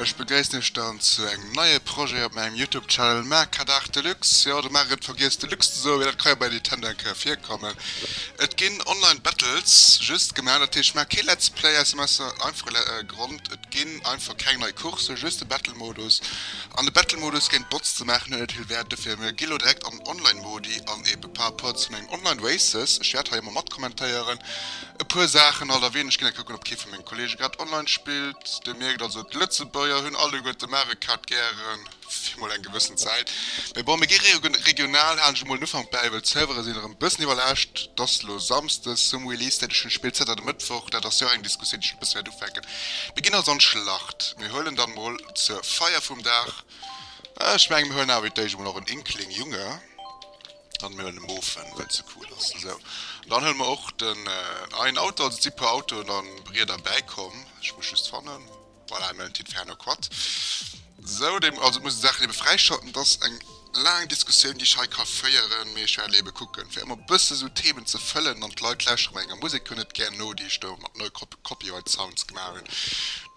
Ech begréissen iech dann zu engem neie Projet op mengem Youtube Channel Mercadart Deluxe. Jo, de Marc huet vergiess Deluxe ze soen, mee dat ka jo bei Nintendo eng Kéier virkommen. Et ginn Online Battles just gemaach, dat heescht, maacht kee Let's Play aus dem einfache Grond, et ginn. Einfach keng nei Course, just de Battle Modus. An de Battle Modus géint Bots ze maachen huet net vill Wäert, dofir mir gi lo direkt an Online Modi an eben par rapport zu mengen Online Races, ech wäert hei emmer mat kommentéieren e puer Saachen alt a weeneg ginn, a kucken op kee vu mengen Kollegen grad Online spillt. Dir mierkt also d'Lëtzebuerger hunn alleguerten Mario Kart gären. Fir mol eng gewëssen Zäit. Mee bon, mir gi regional, halen ech emol den Ufank bäi, well d'Servere sinn erëm e bëssen iwwerlaascht. Et ass elo Samsdes, zum Release-Date vun de Spill zënter de Mëttwoch. Dat ass jo och eng Diskussioun, déi ech e bësse wäert ufänken. Mir ginn also an d'Schlacht. Mir huelen dann emol zur Feier vum Dag, ech mengen, mir huelen awer wéi d'éischt emol och en Inkling Junge. An mir huelen e Mofen, well et esou cool ass. Esou, an dann huele mer och den, ah, en Auto. Also et si e puer Autoen a Rieder bäikomm. Ech muss just fannen. Voilà, elo en Tipp fir Hanno Quat. Sou, déi, also muss d'Saachen ebe fräischalten. Et ass eng laang Diskussioun, déi ech hei ka féieren, mee ech wäert ebe kucken, fir ëmmer e bësse esou Themen ze fëllen. An d'Leit lauschteren mer enger Musek jo net gär no, déi ech do mat no Copyright Sounds gemaach hunn.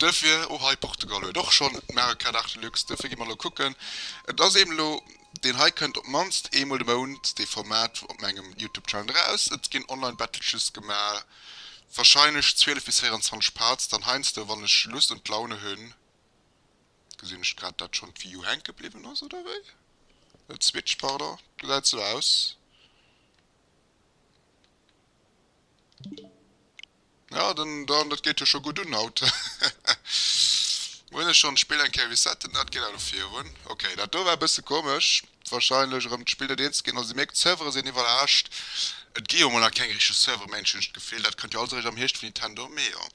Duerfir, oh hei, Portugal huet och schonn d'Mare Card Arte Lux, duerfir gi mer elo kucken. Et ass eeben elo, deen hei kënnt op d'mannst eemol de Mount, dee Format, op mengem Youtube Channel eraus. Et ginn Online Battleches gemaach. Wahrscheinlech 12 bis 24 Parts, dann heiansdo wann ech Lust und Laune hunn. Gesinn ech grad dat schonn d'Wii U hänke bliwwen ass oder wéi? Net Switch pardon, gesäit sou aus. Ja dann dann dat geet jo scho gutt un haut. Hunn ech schonn d'Spill eng Kéier resetten, dat geet awer virun. Ok dat do war e bësse komesch. wahrscheinlech erëm d'Spill net eens ginn. Also si mierkt, d'Servere sinn iwwerlaascht. Et gi jo mol nach keng richteg Servere méint, hunn ech d'Gefill. Dat kënnt jo alles eréischt am Hierscht vun Nintendo. Mee jo.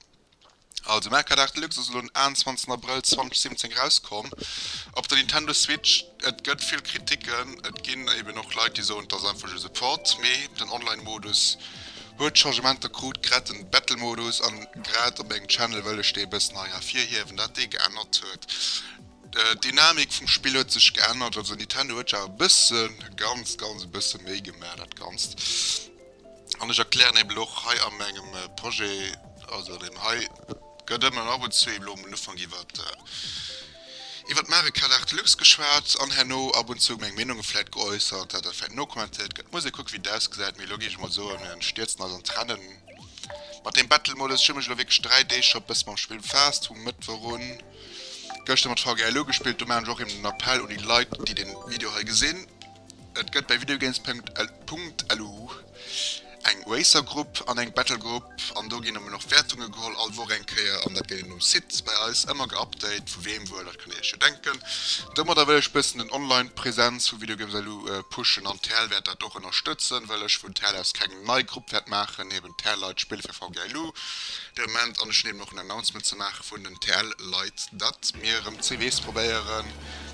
Also Mercadarc Deluxe ass elo den 21 Abrëll 2017 erauskomm op der Nintendo Switch. Et gëtt vill Kriticken. Et ginn eben och Leit, déi soen, et ass einfach just e Port. Mee den Online-Modus huet Changementer krut, grad den Battle-Modus. An grad op mengem Channel wëll ech dee e bëssen hei ervirhiewen, dat dee geännert huet. D'Dynamik vum Spill huet sech geännert, also Nintendo huet jo awer e bëssen, ganz ganz e bësse méi gemaach dat Ganzt. An ech erklären eben och hei a mengem Projet, also deem hei gëtt ëmmer an ab und zu eben lo um Ufank iwwert iwwert d'Mario Kart 8 Deluxe geschwat an herno ab und zu meng Meenunge vläit geäussert, dat dat vläit nokommentéiert gëtt. Muss ee kucke wéi et ausgesäit, mee elo géif ech mol soen, mir stierzen eis an d'Rennen mat deem Battle-Modus. Ech hu mech elo wierklech dräi Deeg scho e bësse mam Spill befaasst, vum Mëttwoch un. Gëschter mat Frau Gäil ugespillt. Do maachen ech och eben den Appell un déi Leit déi den Video hei gesinn. Et gëtt bei videogames.lu eng Racer Grupp an eng Battle Grupp an do ginn eben och Wäertunge geholl all Woch eng Kéier an dat gëtt eben um Site bei eis ëmmer geupdate. Vu weem wuel, dat kënnt dir iech jo denken. Domadder wëll ech bëssen den Online Präsenz vu videogames.lu pushen an d'Häll wäert dat och ënnerstëtzen, well ech vun d'Häll aus keng nei Grupp wäert maachen. TL-Leit spille fir VG Ailou de Moment an ech hunn eben och en Announcement ze maache vun den TL-Leit, datt mir erëm CDs probéieren.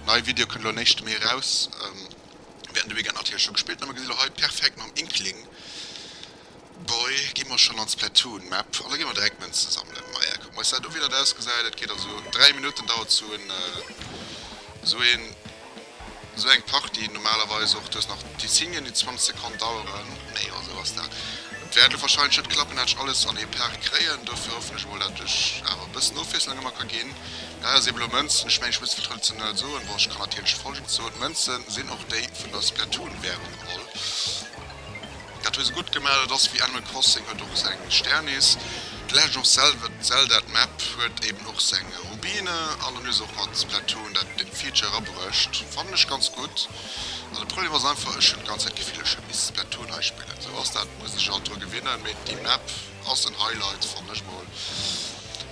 Nei Video kënnt elo en éischte Mee eraus. Während dem Weekend natierlech scho gespillt a mir gesi lo hei perfekt mam Inkling Boy gi mer schonn an d'Splatoon Map an da gi mer direkt Mënze sammelen. Maja kucken mer eis dat u wéi dat ausgesäit. Et geet also 3 Minutten dauert sou en. Sou eng Partie, normalerweis och dës nach déi 10 Minuten, déi 20 Sekonn daueren, nee esou ass dat, wäert elo wahrscheinlech net klappen, dat ech alles an ee Paart kréien. Dofir hoffen ech emol, dat ech awer e bëssen Ofwiesslung ëmmer ka ginn. Dat ass eben elo Mënzen. Ech mengen, ech muss vill traditionell soen, bon, ech kann natierlech Folgendes soen, D'Mënze sinn och déi vun der Splatoon-Währung, lol. Dat hu se gutt gemaach, dat ass wéi Animal Crossing huet och seng Sternis, The Legend of Zelda d'Map huet eben och seng Rubine an dann hu se och mat Splatoon dat den Feature erabruecht, fannen ech ganz gutt. An de Problem ass einfach, ech hunn d'ganz Zäit d'Gefill ech hätt misse Splatoon hei spillen, sou ass dat, muss ech halt dru gewinnen, mee déi Map ass en Highlight fannen ech mol.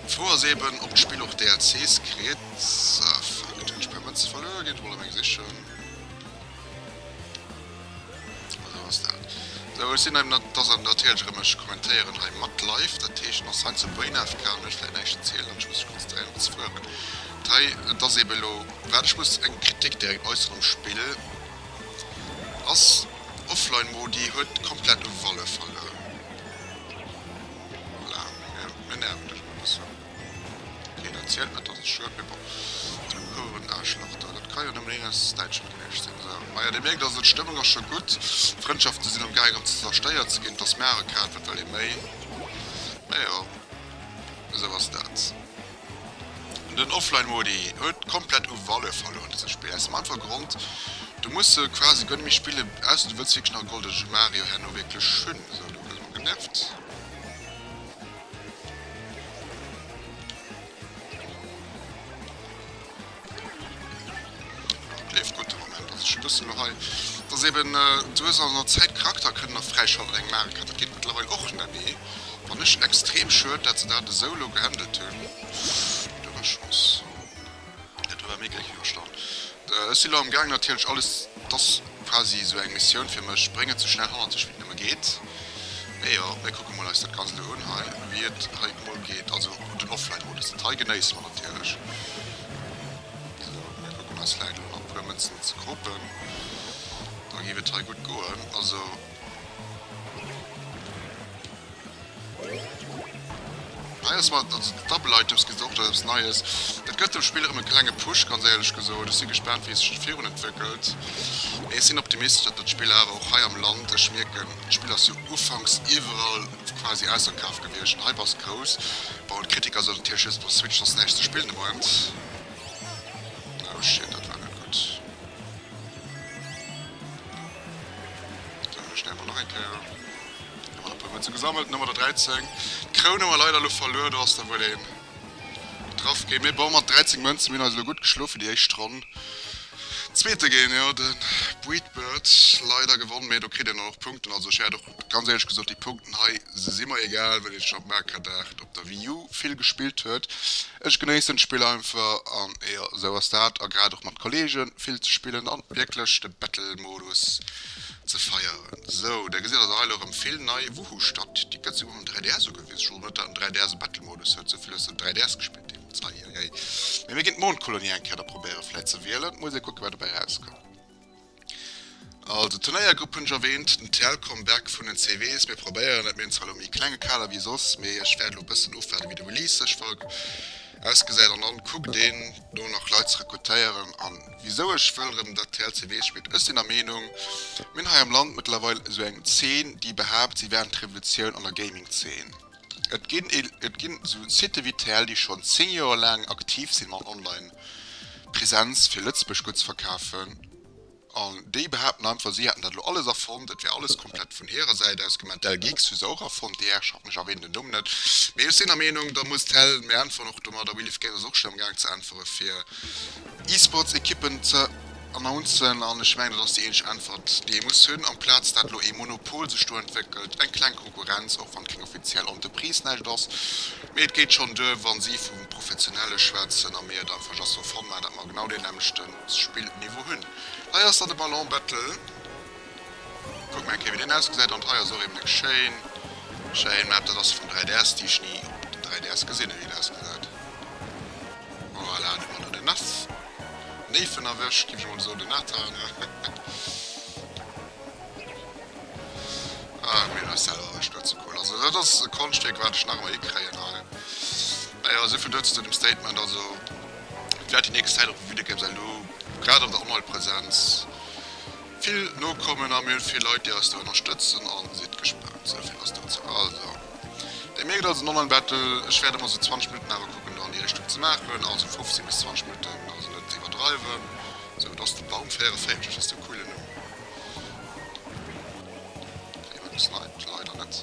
D'Fro ass eben ob d'Spill och DLCs kritt, fuck et hunn ech mäi Mënze verluer, geet emol a meng sichen. Sou ech sinn heim dass an natierlech rem ech kommentéieren hei mat live dat heescht ass hei zu Brain AFK an ech vläit näischt erzielen an ech muss mech konzentréieren op des Work an hei et ass eben elo wat ech muss eng Kritik direkt äusseren um Spill ass offline Modi huet komplett u Value verluer voilà mir nerven dech mol e bëssen. Een erzielt net dass et Schued mee bon den Huren Aarschlach do dat kann jo nëmmen een aus Däitschland gewiescht sinn sou. Maja dir mierkt also d'Stëmmung ass scho gutt, Frëndschaften sinn am gaangen ze zerstéiert ze ginn, et ass mir awer kal, wat wëll ee méi? Mee jo esou ass dat. Den Offline Modi huet komplett u Valeur verluer an dësem Spill aus dem einfache Grond du muss se quasi guer net méi spillen ausser du wëlls wierklech nach e goldege Mario herno wierklech hunn. Sou lo gesi mer genervt. Leeft gutt de Moment. Also ech lussen lo hei. Et ass eben sou ass et an der Zäit. Charakter kënnen nach fräischalten eng Maare Kaart. Dat geet mëttlerweil och net méi. Fannen ech extrem schued dat se dat esou lo gehandelt hunn. Dommeg Chance. Et war méi gléck iwwerstand. Ech sinn elo am gaang natierlech alles, et ass quasi esou eng Missioun fir mech, bréngen sou schnell hannert sech wéi et nëmme geet. Mee jo, mir kucke mol eis dat Ganzt elo un hei, wéi et hei emol geet. Also den Offline Mode ass dat hei, genéisse mer natierlech. Sou, mir kucken eis vläit elo nach e puer Mënzen ze kropen, da géif et hei gutt goen. Also. Hei ass mat den Double Items geet och eppes Neies. Dat gëtt dem Spill erëm e klenge Push, ganz éierlech gesot. Ech si gespaant, wéi e sech virun entwéckelt, mee ech sinn optimistesch, datt dat Spill awer och hei am Land, ech mierken, d'Spill ass jo ufanks iwwerall quasi ausverkaf gewiescht, den Hype ass grouss, bon, d'Kritiker sollen natierlech just op der Switch soss näischt ze spillen de Moment. Oh shit, dat war net gutt. Stellen mer nach eng Kéier an mat e puer Mënze gesammelt. Nummer der 13. D'Kroun hu mer leider elo verluer. Do ass der wuel een getraff ginn. Mee bon, mat 13 Mënzen, mir hunn eis elo gutt geschlo fir déi éischt Ronn. Zweete géing jo de Breedbird leider gewonnen, mee do kritt een dann och Punkten. Also ech wäert och. ganz éierlech gesot, déi Punkten hei si mer egal, well ee scho um Arcade-Aart op der Wii U vill gespillt huet. Ech genéissen d'Spill einfach an jo, esou ass dat. A grad och mat Kolleegen vill ze spillen an wierklech de Battle-Modus ze feieren. Sou, Der gesitt also hei elo erëm vill nei Woohoo statt. Déi gëtt souguer um 3DS ugewisen. Ech wosst och net, datt den 3DS e Battle-Modus huet, esou vill hues de den 3DS gespillt deemools. Hei hei hei. Mee mir ginn d'Mondkolonie eng Kéier da probéieren, vläit ze wielen. Muss ee kucken, wat dobäi erauskënnt. Also d'Turnéiergrupp hunn ech erwähnt, den TL Come Back vun den CV's, mir probéieren et, mir hunn zwar elo méi klenge Kader wéi soss, mee ech wäert elo bëssen ofwaarden wéi de Release sech ausgesäit an dann kuckt een do nach Leit ze rekrutéieren an wisou ech wëll rëm dat TL CW spillt. Ech sinn der Meenung mir hunn hei am Land mëttlerweil esou eng Zeen déi behaapt si wären d'Revolutioun an der Gaming Zeen. Et ginn et ginn esou Sitë wéi d'RTL, déi schonn 10 Joer laang aktiv sinn mat Online Präsenz fir Lëtzebuerg gutt ze verkafen. An déi behaapten einfach si hätten dat elo alles erfonnt, et wär alles komplett vun hirer Säit aus gemaach. Dell Geeks hu se och erfonnt, déi Herrschaften, ech erwänen den Numm net, mee ech sinn der Meenung da muss d'Dell mir äntweren och domat. A Willy Fkent ass och schonn am Gaang ze äntwere fir E-Sports Equippen ze. Announcen, an ech mengen dat ass déi eenzeg Äntwert déi ee muss hunn, amplaz dat elo ee Monopol sech do entwéckelt, eng kleng Konkurrenz, och wann et keng offiziell Entreprise näischt ass, mee et geet schonn duer wa si vu Professionelle schwätzen a mir et einfach just sou fannen, datt mer genau dee nämmlechte Spillniveau hunn. Hei ass dann de Ballon Battle, kucke mer eng Kéier wéi deen ausgesäit, an hei ass och eben eng schéin, schéin Map, dat ass vum 3DS, déi ech ni op dem 3DS gesinn hunn wéi en ausgesäit. Voilà, do hu mer do den Naf. Néifen erwëscht, giff ech mol soen, den Nathan, ne? Ah, hu mir eis selwer erwëscht, dat ass ze cool. Also dat ass e Konschtstéck, wat ech nach emmer hikréien hei. Naja, esou vill dozou, dem Statement. Also et wäert déi nächst Zäit och e Videogame säin, elo grad an der Online-Präsenz. Vill Nokommen a mir hunn vill Leit déi eis do ënnerstëtzen an sidd gespaant, sou vill ass dozou. Also Dir mierkt also den Online Battle, ech wäert emol sou 20 Minutten awer kucken do an déi Richtung ze maachen, also 15 bis 20 Minutten, also net ze iwwerdreiwen. Sou, do ass de Baum 44, ass de coole Numm. Kritt ee mol e bëssen Leit, leider net.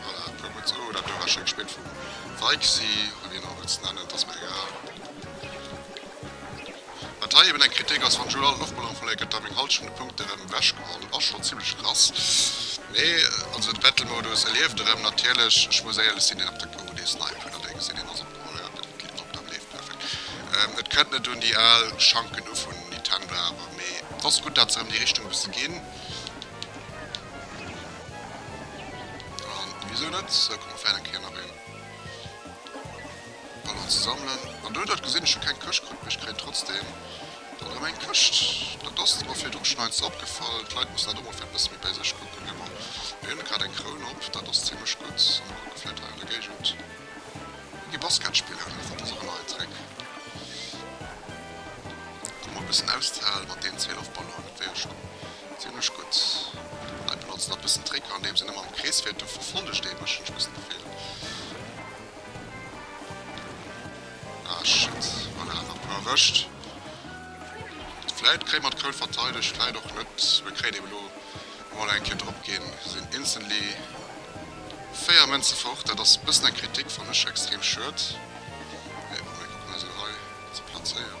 Voilà, dat war gutt esou. Dat huet awer schéin gespillt vum Weichsy. Hunn hien och emol ze nennen, et ass mir egal. Wat hei eben eng Kritik ass, wann Jules all en Loftballon verléiert, gëtt da meng hallschent vun de Punkten erëm ewechgeholl. Dat ass schonn zimmlech krass. Mee also de Battle-Modus, e lieft erëm natierlech. Ech muss éierlech sinn, deen op der Kugel dee Snipen oder dee gesinn, deen ass opgeholl. Jo, den Clip op d'Am leeft perfekt. Et kënnt net un déi al Schanken u vun Nintendo awer, mee et ass gutt, dat se erëm déi Richtung e bësse ginn. An wisou net? Sou komm fält eng Kéier nach een Ballon ze sammelen. An do, dat gesinn ech, hu keng Këscht kritt, mee ech kréien trotzdeem dann erëm eng Këscht. Dat ass mer virdru schonn eins opgefall. D'Leit mussen dat och mol vläicht e bësse méi bei sech kucken. Jo, ma mir hunn grad eng Kroun op, dat ass zimlech gutt. A mir kucke vläicht hei an der Géigend e gi Basket spillen, dat ass och en neien Trick. Mol e bëssen auszehaalen mat deenen 12 Ballonen, dat wär jo scho Zimlech gutt. Hei benotzen dat bëssen Tricker andeems een ëmmer am Krees fiert, do verfollegt ee mech, hunn ech bëssen d'Gefill. Ah shit, voilà awer e puer erwëscht. Vläit kréie mer d'Koul verteidegt, vläit och net. Mir kréien eben elo emol eng Kéier drop ginn, sinn instantly 4 Mënze fort. Dat ass bëssen eng Kritik, fannen ech extrem schued. Mee bon, mir kucken eis elo hei ze plazéieren.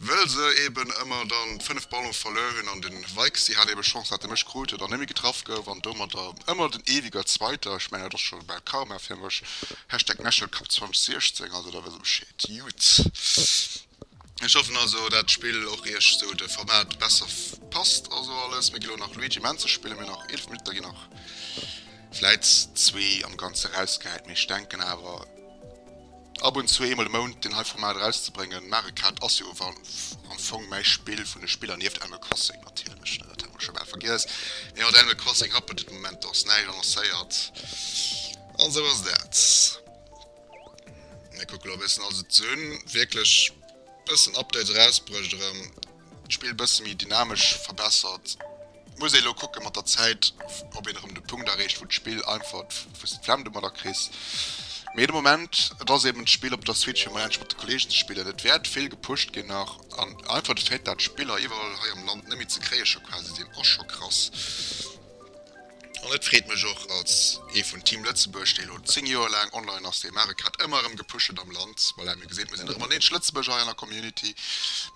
Wëll se eben ëmmer dann 5 Ballon verluer hunn an den Weichsee hat eben Chance, hat de Mésch krut, dann némme getraff gouf an domadder ëmmer den ewiger Zweiter. Ech mengen dat ass scho bal Karma fir mech. Hashtag Mechelcup 2016 also da wëss e Bescheed. Jut, ech hoffen also dat d'Spill och iech sou de Format besser passt also alles. Mir gi lo nach Luigi Menze spillen, mir hunn nach 11 Minutter, ginn nach vläit zwee am ganze rausgehäit, mee ech denken awer, Ab und zu, eemol e Mount, deen hei Format erauszebréngen. Marekat ass jo awer am Fong mäi Spill vun de Spiller, nieft Animal Crossing natierlech, dat hat mer scho bal vergiess. Mee mat Animal Crossing happelt et de Moment dacks näischt, annoncéiert an esou ass dat. Mir kucke lo e bëssen, also d'Suen wierklech e bëssen Updates erausbruecht erëm. D'Spill bësse méi dynamesch verbessert. Muss ee lo kucke mat der Zäit, ob een erëm de Punkt erreecht, wou d'Spill einfach, wou s de d'Flemm domadder kriss. Mee de Moment, et ass eeben d'Spill op der Switch, fir mol endlech mat de Kolleegen ze spillen. Et wäert vill gepusht ginn nach. An einfach de Fait, dat d'Spiller iwwerall hei am Land net méi ze kréie scho quasi sinn, ass scho krass. An et freet mech och als ee vun Team Lëtzebuerg, dee elo 10 Joer laang online ass, dee Mario Kart ëmmer erëm gepusht huet am Land. Voilà, mir geséit, mir sinn erëm en eenzeg Lëtzebuerger hei an der Community.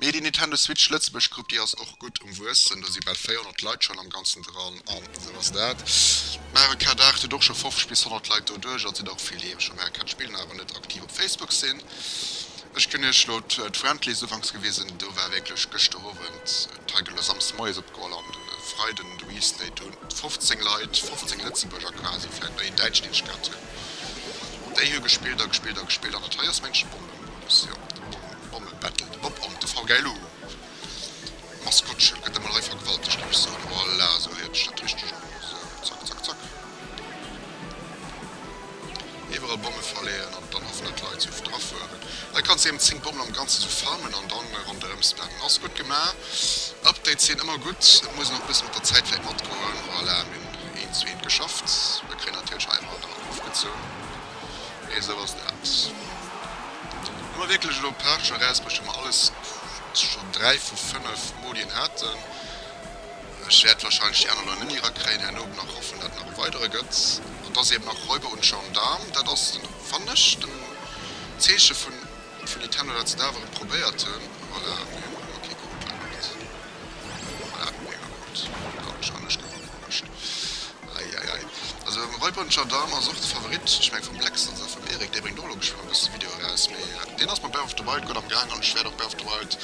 Mee déi Nintendo Switch Lëtzebuerg Grupp, déi ass och gutt um Wuessen. Do si bal 400 Leit schonn am Ganzen dran an esou ass dat. Mario Kart 8 huet och scho 50 bis 100 Leit doduerch. Also sinn och vill, déi ebe scho Mario Kart spillen, awer net aktiv op Facebook sinn. Ech kënn Iech elo d'Friendlies ufanks gewisen, do war wierklech gëschter Owend, D'Reggele Samsde Moie si opgeholl an de Freiden de Restay. Do hunn 15 Leit, 15 Lëtzebuerger quasi, vläicht nach een Däitschen, deen ech kannt hunn, déi hu gespillt a gespillt a gespillt. An dat hei ass mengen ech de Bommemodus, jo, de Bomme-Battle, de Bob-Omb, de VGLU Maskottche gëtt emol hei vergewaltegt, géif ech soen. Voilà, esou héiert sech dat richteg un, esou, zack, zack, zack. Iwwerall Bomme verleeën an dann hoffen dat d'Leit se oft afueren. Hei kanns de eben 10 Bommen am ganzen esou farmen an dann ronderem spammen. Ass gudd gemaach. Updates sinn ëmmer gudd. Et muss een och bëssen mat der Zäit vläit matgoen. Voilà, mir hunn eent zu eent geschafft. Mir kréien natierlech hei ëmmer nach ofgezoun. Mee esou ass dat. Hu mer wierklech elo Pech, erausbrécht hu mer alles scho 3 vu 5 Modien haten. Ech wäert wahrscheinlech déi aner Loi net méi erakréien, herno op nach hoffen, dat et nach e weidere gëtt. An dass eben nach Räuber und Gendarme, dat ass den, fannen ech, den Zeeche vun, vun Etenno, dat se da awer et probéiert hunn. Voilà, mir hunn ëmmer kee krut, leider net. Voilà, mir hunn ëmmer krut, dat schon, ech gouf ageluecht. Ei, ei, ei. Also Räuber und Gendarme ass och de Favorit, ech mengen vum Blex, also vum Eric, dee bréngt och elo geschwënn e bësse Video eraus, mee deen ass mam Breath of the Wild gutt amgaang an ech wäert och Breath of the Wild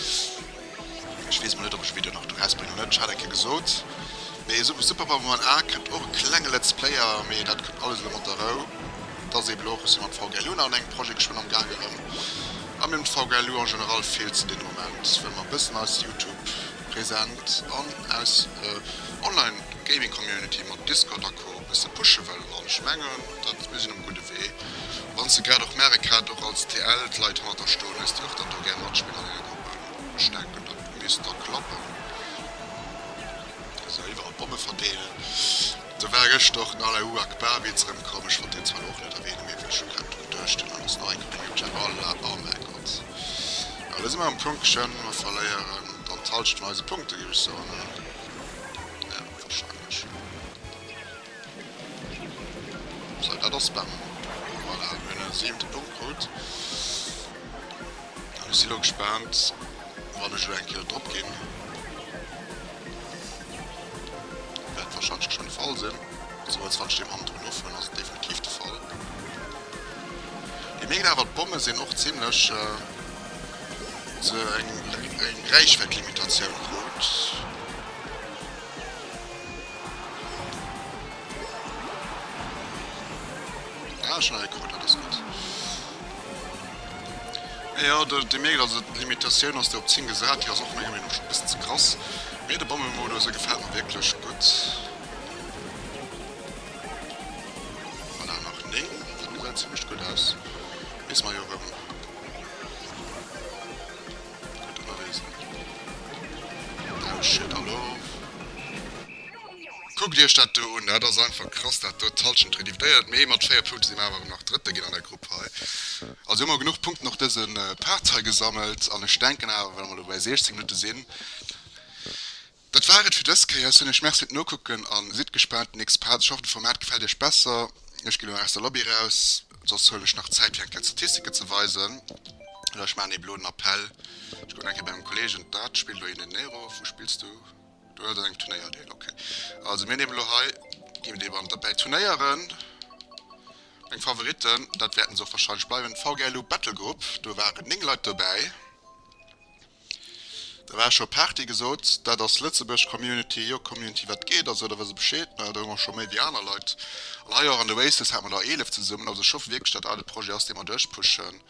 Ech wees mol net op ech Video nach do raus brengen oder net, ech hat eng Kéier gesoot mee esou wéi Super Power Man A kënnt och e klenge Let's Player mee dat kënnt alles elo mat der Rou. Dat ass eben och ech sinn mam VGLU nach un engem Projet geschwënn am gaang erëm a mir hunn d'VGLU en général vill ze dinn am Moment well mer e bëssen eis Youtube Präsenz an aus Online Gaming Community mat Discord a Co e bësse pushen wëllen an ech mengen dat mir sinn um gudde Wee wanns de grad och Merk hat och als TL d'Leit hannerter stoen hues déi och dann do gär matspillen an denger Grupp. Stärken dat bis da klappen. Esou iwwerall Bomme verdeelen. Do war geschter och den Allahu Akbar Witz rem komm. Ech wollt deen zwar lo och net erwähnen, mee wéi ech lo grad drun duecht hunn, alles nei komm hu mir gesot, Allah, oh mäi Gott. Awer lo si mer um Punktchen, mer verléieren dann d'Halschent vun eise Punkte géif ech soen, oder? Jo, wahrscheinlech. Sou, dat ass Spam. Voilà, mir hunn e siwente Punkt krut. An ech si lo gespaant, wann ech elo eng Kéier drop ginn, wäert warscheinlech geschwënn de Fall sinn. Sou, als wann ech deem Hamm drun ofhuelen, ass et definitiv de Fall. Déi mierkt awer, d'Bomme sinn och zimlech. Hu se eng Räichwäitlimitatioun krut? Ah schon e Rekord, dat ass gutt. Jo, Dir mierkt also, d'Limitatioun ass do op 10 gesat, déi ass och menger Meenung no schonn e bëssen ze krass. Mee de Bommemodus, e gefält mer wierklech gutt. Voilà, nach 9, dat gesäit zimlech gutt aus. Weess mer jo erëm. Kuckt iech dat do un, dat ass einfach krass dat do. D'Hallschent redivdéiert, mee mat 4 Punkte si mer awer erëm nach Drëtte ginn an der Grupp hei. Also hu mer genuch Punkten och dëse Part hei gesammelt an ech denken awer, well mer elo bei 16 Minutte sinn, Dat war et fir dës Kéier. Soen iech Merci fir d'Nokucken an sidd gespaant op den nächste Part. Ech hoffen d'Format gefält iech besser. Ech ginn elo aus der Lobby raus, soss huelen ech nach Zäit fir eng Kéier d'Statistiken ze weisen. Oder ech maachen eben elo den Appell, ech kucken nach eng Kéier bei mengem Kollegen, dat spillt elo hien den Nero. Wou spills du? Do ass engem Turnéier deel, ok. Also mir nehmen elo hei, ginn et eben an d'Abtei Turnéieren, meng Favoritten, dat wäerten se och wahrscheinlech bleiwen, VGLU Battlegroup, do waren 9 Leit dobäi. Da war scho Party gesot. Dat ass Lëtzebuerg Community. Jo Community wat geet also da wëss e Bescheed ne, da hu mer scho méi wéi aner Leit an hei och an de Waste's hat mer der 11 zesummen. Also ech hoffe wierklech dat dat e Projet ass dee mer duerch pushen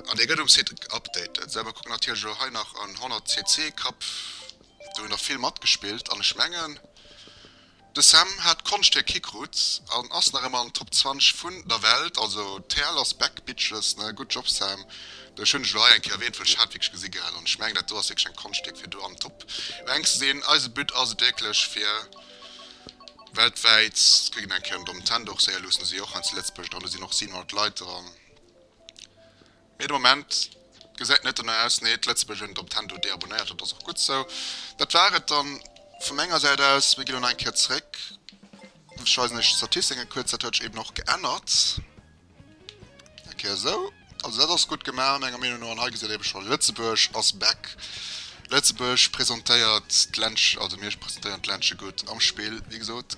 an dee gëtt um Site geupdatet. Esou mer kucken natierlech elo hei nach an 100 CC Cup do hu nach vill matgespillt an ech mengen. De Sam hat d'Konscht hir Kikruz an ass nach emmer an den Top 20 vun der Welt, also d'Perl ass back bitches ne, good job Sam, ech hunn dech elo hei eng Kéier erwähnt well ech hat wierklech gesi gehad an ech mengen dat do ass wierklech eng Konschtwierk fir do am Top Rank ze sinn. Eise But ass et wierklech fir weltwäit ze krigen, eng Kéier an Domtendorf, Saeilus, do si och hei zu Lëtzebuerg dran, do sinn och 700 Leit dran. Mee de Moment gesäit net dono aus. Nee, d'Lëtzebuerger hunn et op Tendo deabonnéiert. Dat ass och gutt sou. Dat war et dann vu menger Säit aus. Mir ginn elo nach eng Kéier zréck. Ech weisen iech d'Statistiken kuerz. Dat huet sech eben och geännert. Eng Kéier sou. Also dat ass gutt gemaach menger Meenung no. An hei gesäit ee scho, Lëtzebuerg ass back. Lëtzebuerg presentéiert d'Ländche, also mir presentéieren d'Ländche gutt am Spill, wéi gesot.